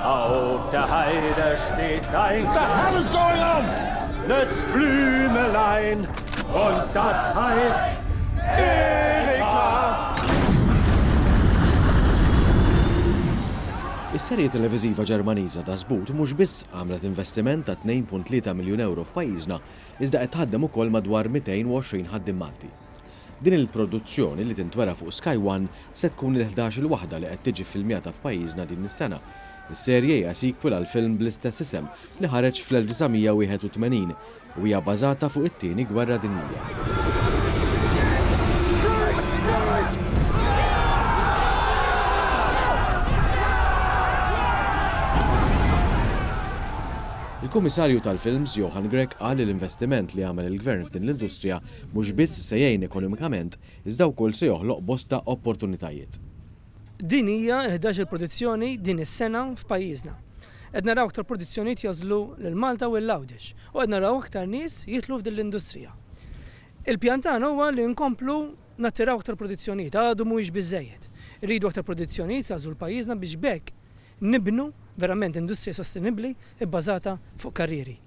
Auf der Heide steht ein The hell is going on? Das Blümelein und das heißt Erika. Is-serje televiżiva Ġermaniża ta' Sbut mhux biss għamlet investiment ta' 2.3 miljun euro f'pajjiżna, iżda qed tħaddem ukoll madwar 220 ħaddim Malti. Din il-produzzjoni li tintwera fuq Sky One se tkun il-ħdax-il waħda li qed tiġi ffilmjata f'pajjiżna din is-sena. Is-serje hija sequel għall-film bl-istess isem li ħareġ fl-1981 u hija bażata fuq it-Tieni Gwerra Dinjija. Il-Kummissarju tal-Films, Johan Grech qal li l-investiment li għamel il-Gvern f'din l-industrija Mhux biss se jgħin ekonomikament, iżda wkoll se joħloq bosta opportunitajiet. Din hija l-ħdax-il produzzjoni din is-sena f'pajjiżna. Qed naraw aktar produzzjonijiet jagħżlu lil Malta u lil Għawdex u qed naraw aktar nies jidħlu f'din l-industrija. Il-pjan tagħna huwa li nkomplu nattiraw aktar produzzjonijiet, għadu mhuwiex biżżejjed. Irridu aktar produzzjonijiet jagħżlu lil pajjiżna biex b'hekk nibnu verament industrija sostenibbli bbażata fuq karrieri.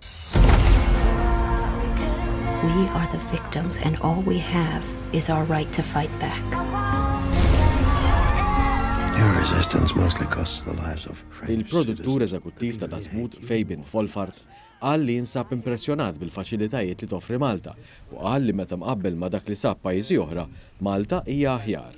Il-produttur eżekuttiv ta' Dazmut, Fabian Folfart, qal li jinsab impressjonat bil-faċilitajiet li toffri Malta u qal li meta mqabbel ma' dak li sab pajjiżi oħra, Malta hija aħjar.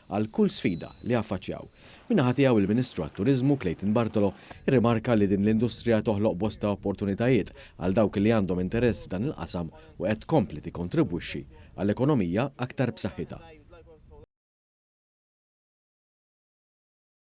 għal kull sfida li jaffaċċjaw. Min-naħa tiegħu il-Ministru għat-Turiżmu, Clayton Bartolo, irrimarka li din l-industrija toħloq bosta opportunitajiet għal dawk li għandhom interess f'dan il-qasam u qed tkompli tikkontribwixxi għal ekonomija aktar b'saħħitha.